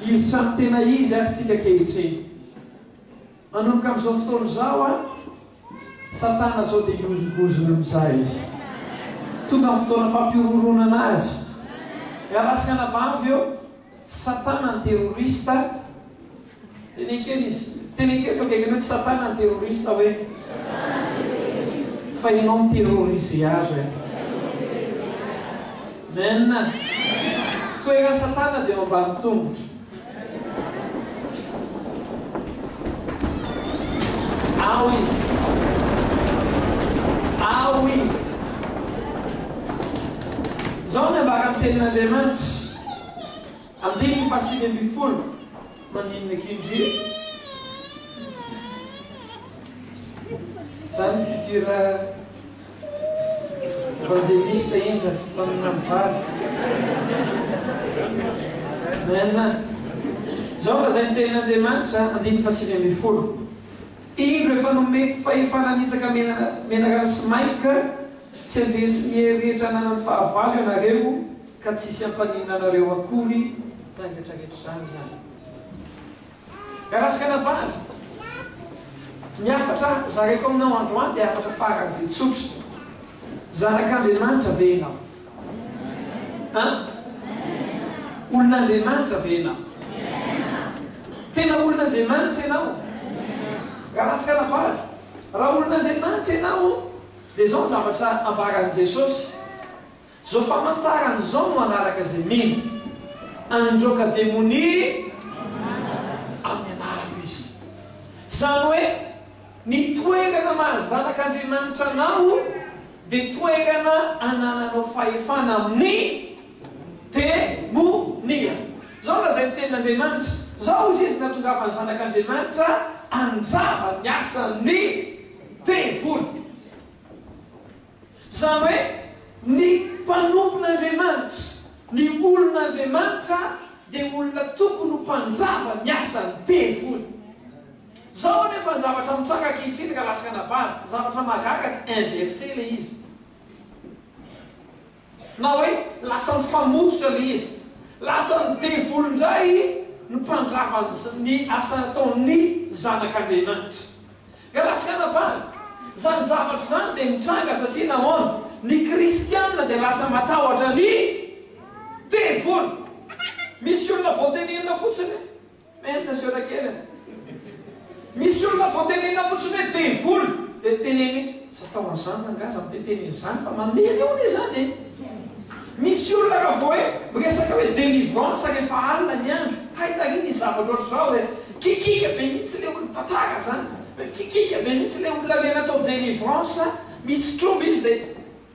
Izy samy tena izy ary tsika ankehitriny. Manomboka amin'izao fotoana izao an, Satana izao dia hihozongozona mizaha izy. Tonga ny fotoana fampihorohoroanana azy. Miarasika anabavy eo, Satana ny terroriste. Teneno kely izy, teneno kely eo akaikinao hoe, Satana ny terroriste hoe. Fa ianao mi-terroriser azy hoe. Amen! Toeran satana dia ao ambany tongotro. Ao izy! Ao izy! Zao ny ambaran'ny tenin' Andriamanitra, andininy fahasivy ambin'ny folo, maninona akia ndry e? Zany futur Evangeliste indra mpaminany vavy. Amen. Izao lazain' ny tenin' Andriamanitra, andininy fahasivy ambin'ny folo, Indro efa nomeko fahefana hanitsaka mena mena rano sy mainka, tsy handresy ny hery rehetra ananany fahavalo ianareo, ka tsisy hampaninona anareo akory, tainga tra rehetra izany izany. Garaskana vavy! Ny hafatra zaraiko aminao androany dia hafatra faran'izay tsotra. Zanak'Andriamanitra ve ianao? An? Olon'Andriamanitra ve ianao? Tena olon'Andriamanitra ianao? Garaskana vavy! Raha olon'Andriamanitra ianao, dia izao ny zavatra ambaran'i Jesosy. Zao famantarana zao no hanaraka zay mino. Handroaka demonia amin'ny anarako izy. Zany hoe ny toerana maha zanak'Andriamanitra anao dia toerana anananao fahefana amin'ny demonia. Zao lazain'ny tenin'Andriamanitra, zao izy izy nahatongavan'ny zanak'Andriamanitra hanjava ny asan'ny devoly. Izany hoe, ny mpanompon'Andriamanitra, ny olon'Andriamanitra dia olona tokony ho mpandrava ny asan'ny tempoly. Izao anefa ny zavatra mitranga ankehitriny ka lasaka anabavy, zavatra mahagaga dia inverse ilay izy. Na hoe lasa mifamototra ilay izy. Lasan'ny devoly indray ny mpandrava ny asa nataon'ny Zanak'Andriamanitra. Grace Kanabary, Izany zavatra izany dia mitranga satria nahoana? Ny kristiana dia lasa matahotra ny devoly. Misy olona voatenerina fotsiny. Merina siora kely a! Misy olona vao tenenina fotsiny hoe devoly dia teneniny hoe tsy atao an'izany ranga aza mitentena izany fa mamely hono izany e! Misy olona raha vao hoe miresaka hoe delivrance rehefa alina ny andro, hay taria misy zavatra ohatr'izao hoe kikika be mihitsy le olona, tantara zany, hoe kikika be mihitsy le olona le natao delivrance, misy tromba izy dia.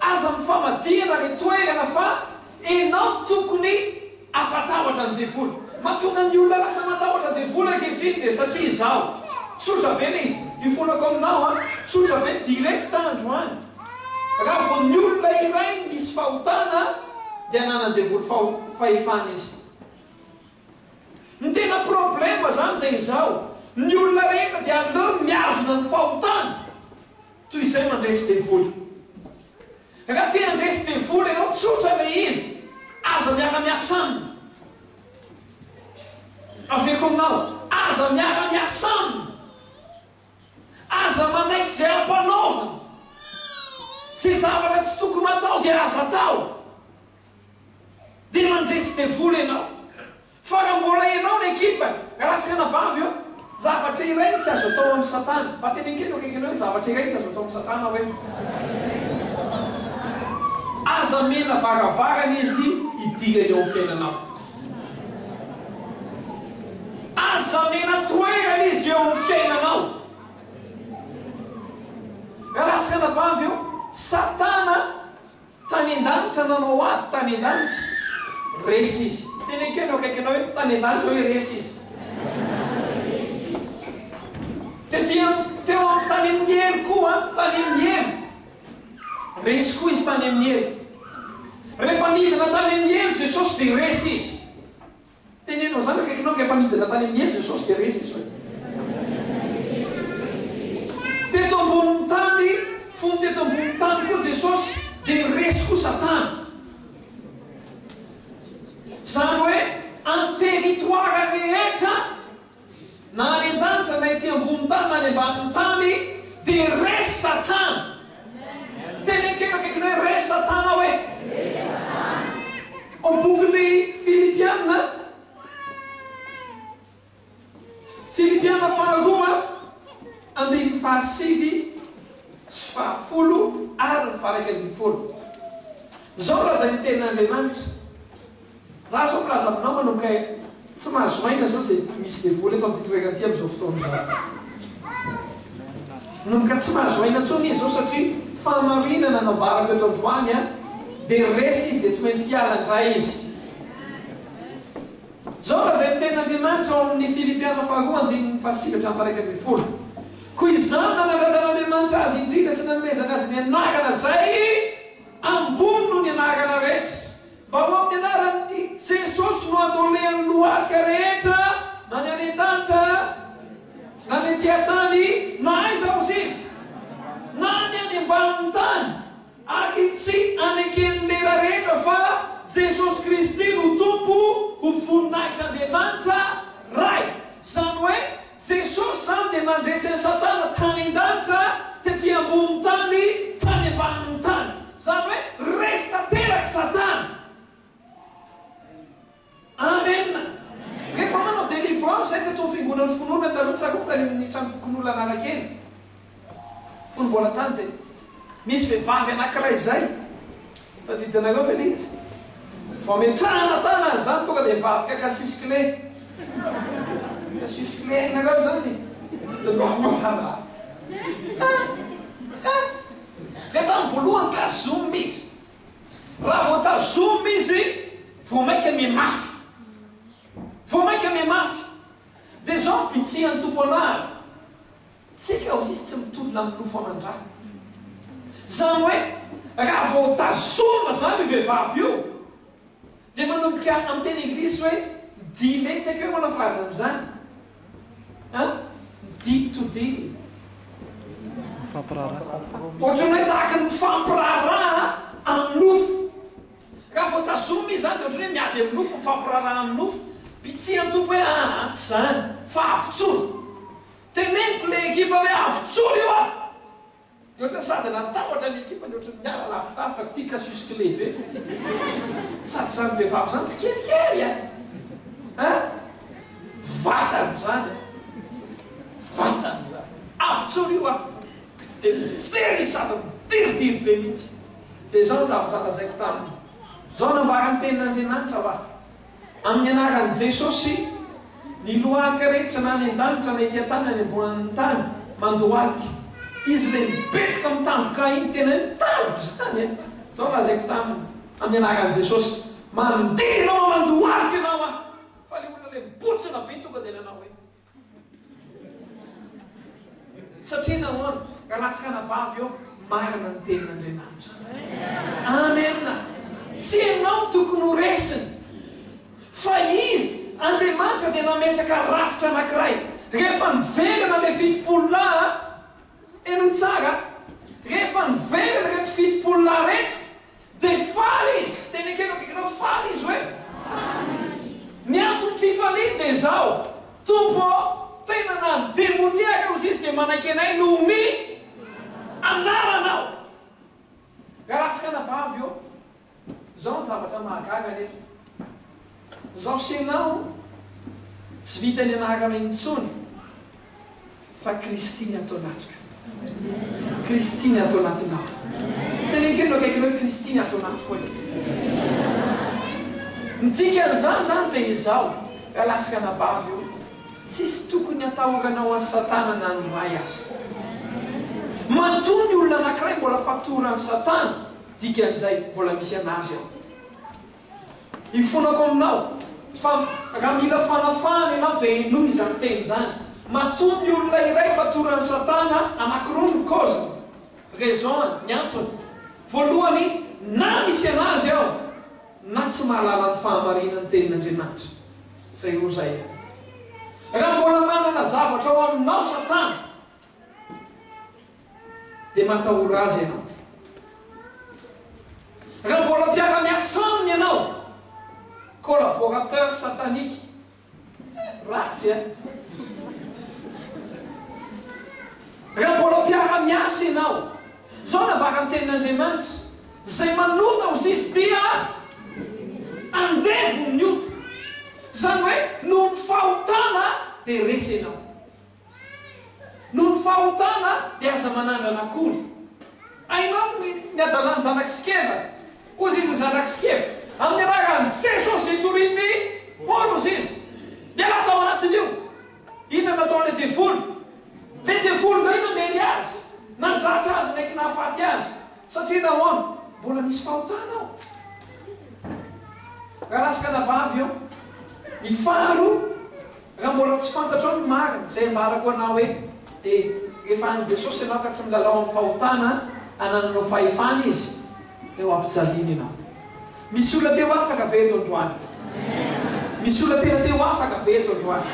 Aza mifamadihana re toerana fa enao tokony ampatahotra ny devoly. Matonga ny olona lasa matahotra devoly ankehitriny dia satria izaho. Tsotra be le izy. Ifolako aminao a. Tsotra be direct androany. Raha vao ny olona iray misy fahotana dia ananan devoly faho fahefana izy. Ny tena problème zany dia izao, ny olona rehetra dia aleo miazona ny fahotany. Toy izay mandresy devoly. Raha te handresy devoly ianao, tsotra ilay izy, aza miara-miasa aminy. Aveiko aminao, aza miara-miasa aminy. Aza manaiky izay ampanaoviny. Izay zavatra tsy tokony atao dia aza atao. Dia mandresy devoly ianao. Fa raha mbola ianao ny ekipa, raha tsy anabavy eo, zavatra iray no tsy azo atao amin'i Satana. Mba teneno kely eo akaikinao hoe, Zavatra iray tsy azo atao amin'i Satana hoe, Aza amena varavarana izy hidirana eo amin'ny fiainanao. Aza amena toerana izy eo amin'ny fiainanao. Raha tsy anabavy eo, Satana. Tany an-danitra nanao ady tany an-danitra. Resy izy. Teneniko eo akaikinao hoe tany an-danitra hoe resy izy. Tety amin'ny teo amin'ny tany amin'ny hery koa tany amin'ny hery. Resy koa izy tany amin'ny hery. Rehefa nidina tany amin'ny hery Jesosy dia resy izy. Teneno izany akaikinao ka efa nidina tany amin'ny helo Jesosy dia resy izy hoe. Teto ambonin'ny tany, fony teto ambonin'ny tany koa Jesosy dia resy koa Satana. Izany hoe anteritoara rehetra Na any an-danitra na ety ambony tany na any ambanin'ny tany dia re satana. Teny akaiky akaiky ny hoe re satana aho e. Ao bokin'ny Filipiana, Filipiana faharoa andininy fahasivy sy fahafolo ary ny faha iraika ambin'ny folo. Izao no lazain'ny tenin'Andriamanitra. Za zao mpilaza aminao manao kay tsy mahazo aina zao ze misy devoly eto amty toerana ty amzao fotoana zao. Manomboka tsy mahazo aina tsony izy zao satria fahamarinana nambarako eto androany a de resy izy de tsy maintsy hiala ndray izy. Zao raha zay ny tenin Andriamanitra ao aminy Filipiana faharoa andininy fahasivy hatram paraika ambin'ny folo ko izany nanaradan Andriamanitra azy indrindra sy nanomezany azy ny anarana zay ambony noho ny anarana rehetra. Mba ho amin'ny anaran'i Jesosy no andolean'ny lohalika rehetra na ny any an-danitra na ny aty an-tany na aiza aza izy, na ny any ambanin'ny tany, ary tsy aneken'ny lera rehetra fa Jesosy Kristy no Tompo ho voninahitr'Andriamanitra Ray, izany hoe, Jesosy izany dia nandresy an'i Satana tany an-danitra tety ambonin'ny tany tany ambanin'ny tany. Izany hoe resy tanteraka i Satana. Amen! Rehefa manao délivrance izahay teto amin'ny fiangonan'ny finoana, taloha tsaroako tany amin'ny tranom-pokonolona Analakely, Fony mbola tany dia nisy vehivavy anankiray izay, tadidinareo ve ilay izy? Vao metrahana tanana izany tonga dia hivadika casus clé. Casus clé hainareo izany e. Dia lohalohana. Dia tamin'ny voalohany tazomina izy. Raha vao tazomina izy, vao mainka mimafy. Vao mainka mimafy. Dia izao ny bitsihan'ny tompo anary. Tsika hoy izy tsy mitolona amin'ny nofo aman-drano. Izany hoe raha vao tazomina izany io vehivavy io dia manomboka amin'ny teny englisy hoe dealer, tsy haiko hoe ahoana frazy amin'izany an, deal to deal. Mifampiraharaha, compromis. Ohatran'ny hoe tahaka ny mifampiraharaha amin'ny nofo. Raha vao tazomina izy izany dia ohatran'ny hoe miady amin'ny nofo, mifampiraharaha amin'ny nofo. Pitsihy an-tompo hoe aa, tsy izany, fa avotsoa. Teneniko le ekipa hoe avy tsory io ah! Dia ohatran'ny sady natahotra ny ekipa dia ohatran'ny miala lafilafi fa tia casus clay be le izy. Sady izany vehivavy izany tsikelikely an! An! Vatany izany an! Vatany izany! Avy tsory io ah! Dia mijery izy sady midiridiry be mihitsy. Dia izao ny zavatra lazaiko taminy. Izao nambaran'ny tenin'Andriamanitra fa. Amin'ny anaran'i Jesosy, ny loharika rehetra na any an-danitra na ety an-tany na any ambonin'ny tany, mandohalika. Izy ilay mibetroka amin'ny tandroka iny, tena hoe tandroka izany e! Izao no lazaiko taminy, Amin'ny anaran'i Jesosy, mandeha ianao aho, mandohalika ianao aho! Fa ilay olona ilay mibotsina be tonga dia nanao hoe. Satria nahoana? Raha tsy anabavy eo, marina ny tenin'Andriamanitra. Amena. Tsy ianao no tokony ho resiny. Fa Izy, Andriamanitra dia nametraka rafitra anankiray. Rehefa niverina ilay fitopolo lahy, henoy tsara, rehefa niverina ireto fitopolo lahy ireto, Dia faly izy. Teny ekena bikinao, faly izy hoe. Ny anton'ny fifaliany dia izao, Tompo ô, tena na ny demoniaka aza izy dia manaiky anay noho ny anaranao. Galatsy anabavy ô. Izao ny zavatra mahagaga anefa. Zao fisainao tsy vita ny anarana intsony fa Kristy ny ato anatiko. Kristy ny ato anatinao. Teneno kely eo akaikinao hoe Kristy ny ato anatiko e. Ny dikan'izany zany dia izao, raha lasika anabavy io, tsisy tokony atahoranao an'i Satana na ny Ray aza. Matoa ny olona anankiray mbola fatoran'i Satana, dikan'izay mbola misy an'azy ao. Ifonako aminao fa raha mila fanafahana ianao dia henoy izany teny izany. Matoa ny olona iray fatoran'i Satana anankiroa no kaoziny, raison-ny, ny antony. Voalohany, na misy an'azy ao na tsy mahalala ny fahamarinan'ny tenin'Andriamanitra. Izay roa izay. Raha mbola manana zavatra ao aminao Satana Dia matahora azy ianao. Raha mbola mpiara-miasa aminy ianao, collaborateur satanique, ratsy eh? Raha mbola mpiara-miasa ianao, zao nambaran'ny tenin'Andriamanitra, izay manota ho zisy dia andevo ny ota. Izany hoe noho ny fahotana dia resy ianao. Noho ny fahotana dia aza manandrana akory. Hainao ny ny adalan'ny zanak'i Sikeva? Hoy izy ny zanak'i Sikeva, Amin'ny anaran'i Jesosy itorin'i Paoly, hoy izy, miala tao anatin'io! Inona no nataon'ilay devoly? Ilay devoly indray namery azy, nandratra azy naiky nahafaty azy. Satria nahoana? Mbola misy fahotana ao. Raha ratsy ka navavy eo. Ny faharoa. Raha mbola tsy fantatrao ny marina, izay ambarako anao eto, dia rehefa any Jesosy ianao ka tsy milalao amin'ny fahotana anananao fahefana Izy, dia ho ampijaliany ianao. Misy olona te ho afaka ve eto androany? Misy olona tena te ho afaka ve eto androany?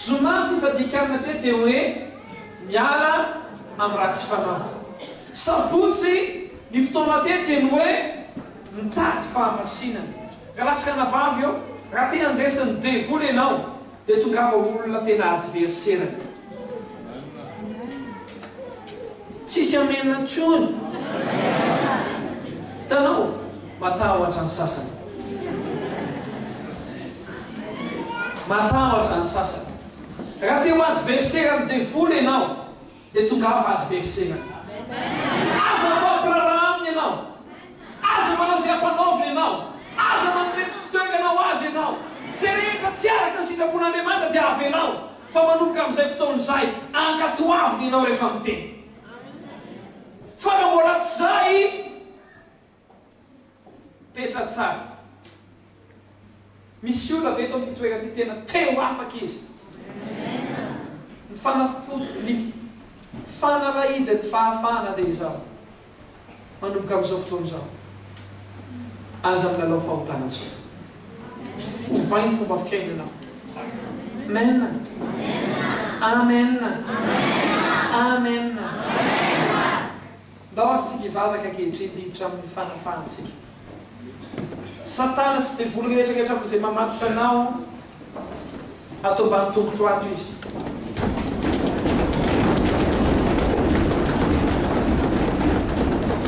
Zoma ny fifadian-kanina teto dia hoe miala amin'ny ratsy fanahy. Sabotsy ny fotoana teto dia ny hoe Mitady fahamasinana. Ka lasaka anabavy eo, raha te handraisan'ny devoly ianao dia tongava ho olona tena adverserany. Tsisy amen intsony. Hitanao? Matahotra ny sasany. Matahotra ny sasany. Raha te ho adverseran'ny devoly ianao. Dia tongava hady be fisainana. Aza atao mpiraharaha aminy ianao. Aza manao izay ampanaoviny ianao. Aza manome tsy fitoerana ho azy ianao. Izay rehetra tsy araka ny sitrapon'Andriamanitra dia avelao, fa manomboka amin'izay fotoana izay, ankatoaviny ianao rehefa miteny. Fa raha mbola tsy izay, Petra tsara. Misy olona ve eto amin'ity toerana ity tena te ho afaka izy? Ny fanafody, ny fanalahidan'ny fahafahana dia izao. Manomboka amin'izao fotoana izao, aza milalao fahotana intsony. Ovay ny fomba fiainana. Amen. Amen. Amen. Amen. Ndao hamonjy ny vavaka ankehitriny hiditra amin'ny fanafahantsika. Satana sy devoly rehetra rehetra amin'izay mamatotra anao ato ambany tongotro ato izy.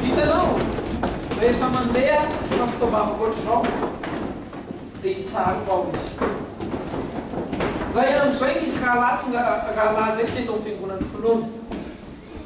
Hitanao, rehefa mandeha na fitaovavako ohatr'izao dia hitsariko ao izy. Ray andro izay nisy rahalahy tonga rahalahy izay teto amin'ny fiangonan'ny finoana.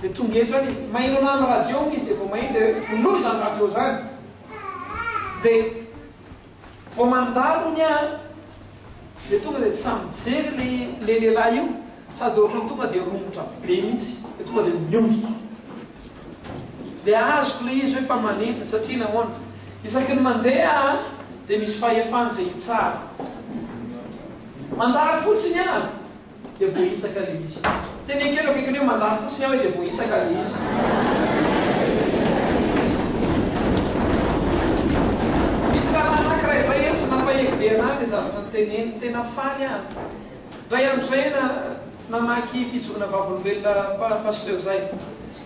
Dia tonga eto any izy. Maheno anah amin'ny radio hono izy dia vao maheno dia hoe onoy izany radio izany. Dia vao mandalo hono aho dia tonga dia tsy sahy mijery ilay ilay lehilahy io sady ohatran'ny tonga dia romotra be mihitsy. Dia tonga dia miondrika. Dia azoko ilay izy hoe fa manentana satria nahoana? Isaky ny mandeha aho dia misy fahefana izay hitsara. Mandalo fotsiny aho. Dia voahitsaka ilay izy. Teny an-kely eo akaikiny hoe, Mandà fotsiny aho e, dia voahitsaka ilay izy. Misy rahalahy anankiray izay eto, nampahery be anahy ilay zavatra noteneniny. Tena faly aho. Indray andro izay na, namaky Fijoroana Vavolombelona pa, Pasteur izay.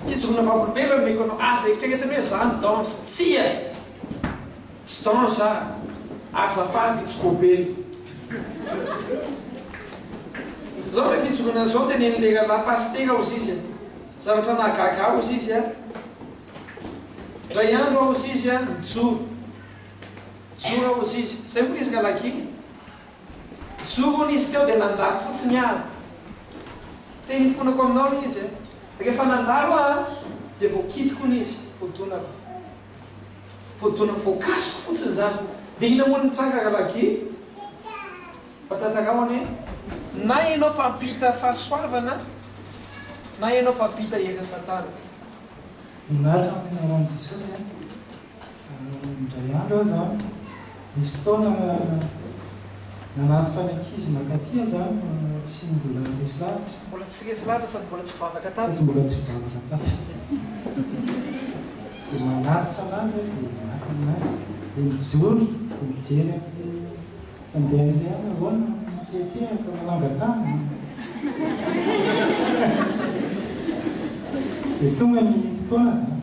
Fijoroana Vavolombelona no omeko anao. Aza eritreretina hoe izaho no dans. Tsia! Stan sa azafady tsy kobely. Zao le fijoroana zao teneno le ralahy pasitera ozy izy a! Zavatra nahagaga ahy ozy izy a! Ndray andro aho ozy izy a nijoro, nijoro aho ozy izy, zay hono izy ralahy gina e! Nijoro hono izy teo de nandalo fotsiny aho, te hifonako aminao le izy a! Refa nandalo aho a de voakidiko hono izy, hodonako. Fotoana voakasiko fotsiny izany. Dia inona moa no nitranga rahalahy Guy? Fa tantarao anie. Na ianao mpampita fahasoavana na ianao mpampita herin' Satana. Mianatra ny Anaran'i Jesosy an! Indray andro aza an! Nisy fotoana nanatitra ny ankizy mankaty aza fa tsy mbola resy lahatra. Mbola tsy resy lahatra sady mbola tsy vavaka tato. Sady mbola tsy vavaka tato. Dia manatitra anazy aho dia miaky anazy dia mijoro dia mijery an'ilay mpandeha an'ilay aho, ahoana mitetehaka manangan-tany? Dia tonga ny fotoana izany.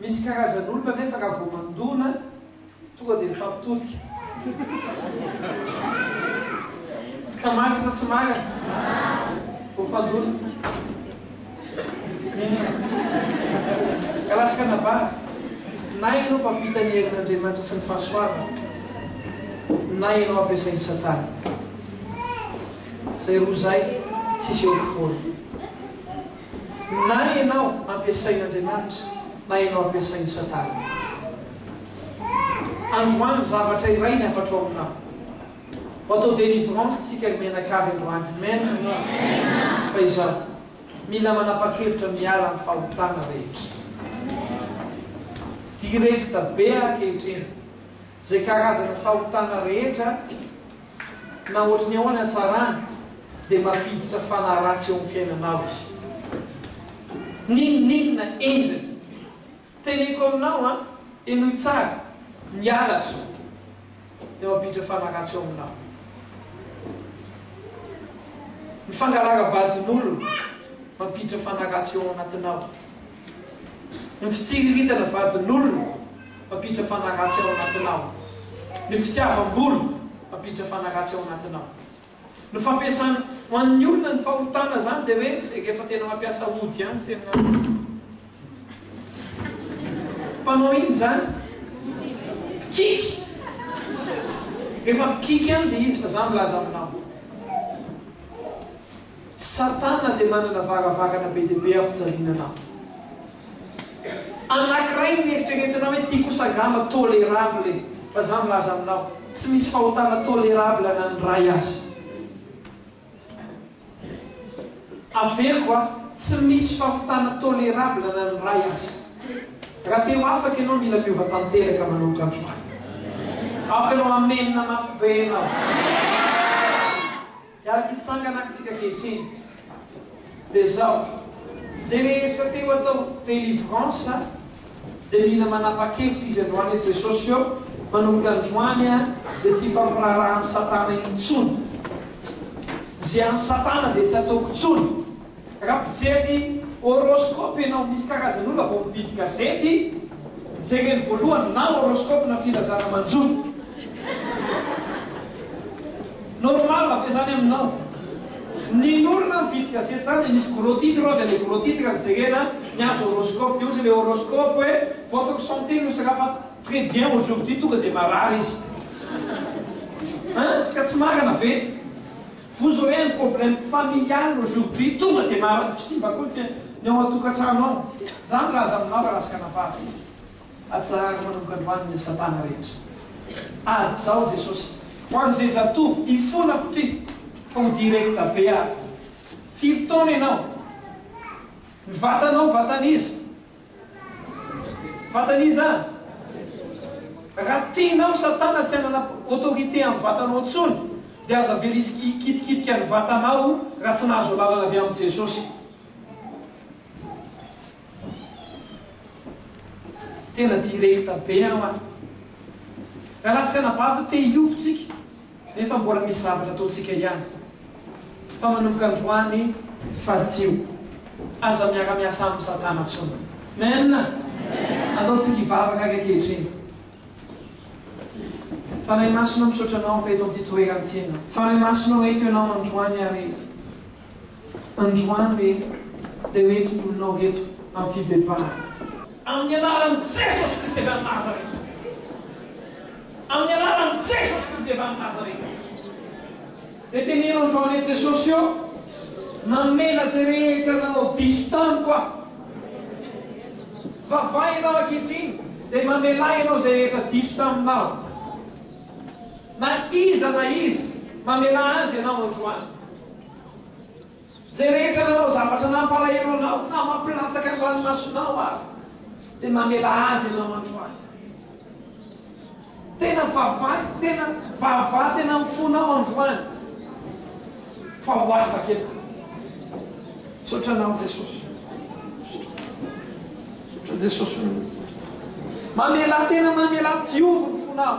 Misy karazan'olona anefa raha vao mandona tonga dia mifampitodika. Ka marina sa tsy marina? Vao mpandona. Ka lasa kanabary. Na ianao mpampita ny herin'Andriamanitra sy ny fahasoavany, na ianao ampiasain'i Satana. Izay roa izay tsisy eo ampovoany. Na ianao ampiasain'Andriamanitra na ianao ampiasain'i Satana. Androany zavatra iray ny hafatro aminao. Ho ato ho délivrance tsika ry mianakavy androany. Amen. Fa izao. Mila manapakevitra miala amin'ny fahotana rehetra. Directe be akehitriny. Izay karazana fahotana rehetra, na ohatry ny ahoana hatsarany, dia mampiditra fanahy ratsy eo amin'ny fiainanao izy. N'inon'inona endriny. Teneniko aminao an, henoy tsara, ny halatra dia mampiditra fanahy ratsy eo aminao. Ny fangalàram-badin'olona mampiditra fanahy ratsy eo anatinao. Ny fitsiriritana vadin'olona mampiditra fanaratsy ao anatinao. Ny fitiavam-bola mampiditra fanaratsy ao anatinao. Ny fampiasana, ho an'ny olona ny fahotana zany dia hoe izay rehefa tena mampiasa ody ihany tena mpanao inona izany? Mpikiky! Rehefa mpikiky ihany dia izy fa za milaza aminao. Satana dia manana varavarana be dia be hampijaliana anao. Anankiray ny eritreretinao hoe ity kosa angamba tolerable e! Fa za milaza aminao, tsy misy fahotana tolerable na ny iray aza. Averiko a, tsy misy fahotana tolerable na ny iray aza. Raha te ho afaka ianao mila miova tanteraka manomboka androany. Aoka ianao amen mafy be ianao. Dia ary ity tsangana antsika ankehitriny dia izao, izay rehetra te ho atao delivrance dia mila manapa-kevitra izy androany eo Jesosy eo manomboka androany dia tsy hifampiraharaha amin'i Satana intsony, izay an'i Satana dia tsy ataoko intsony. Raha mijery horoscope ianao, misy karazany olona vao mividy gazety, jereny voalohany na horoscope na filazana manjo. Normal ve zany aminao? Ny olona mividy gazety zany dia misy gros titre ao dia le gros titre no jerena, ny azy horoscope, dia ozy le horoscope hoe votre santé ne sera pas très bien aujourd'hui tonga dia marary izy. Hein? Ka tsy marina ve? Vous aurez un problème familial aujourd'hui, tonga dia mahazo kisimba koa ny fiainana, ny ao an-tokantrano ao. Izany raha aza milaza raha asika anabavy e! Atsaharo manomboka androany ny asam-panahy rehetra. Ady izao Jesosy. Ho an'izay zatovo hifonako ity fa ho directa be ary. Firy taona ianao? Ny vatanao vatan'iza? Fantany izany? Raha tianao satana tsy hanana autorité amin'ny vatanao intsony dia aza be risque hikitikitika ny vatanao raha tsy nahazo alalana avy amin'i Jesosy. Tena directe be aho an! Raha latsaka anabavy te hiovo tsika. Nefa mbola misy zavatra ataontsika ihany fa manomboka androany faritio aza miara miasa aminy satana tsony Amen Ataontsika hivavaka ary ankehitriny Fanahy Masina misaotra anao fa eto amin'ity toerana ity ianao Fanahy Masina o eto ianao androany ary Androany reto dia ho entin'olonao reto amin'ny fibebahana. Amin'ny anaran'i Jesosy Kristy avy any Nazareta. Amin'ny anaran'i Jesosy Kristy avy any Nazareta. Dia teneno androany reto Jesosy ô, mamela izay rehetra nanao diso tamiko aho. Vavaha ianao ankehitriny dia mamelà ianao izay rehetra diso taminao. Na iza na iza, mamelà azy ianao androany. Izay rehetra nanao zavatra nampalahelo anao na mampilatsaka ny ranomasonao ary dia mamela azy ianao androany. Tena vavahy, tena vavaha tena amin'ny fonao androany fa ho afaka ianao. Misaotra anao Jesosy. Misaotra Jesosy. Mamela tena mamela tiovy ny fonao.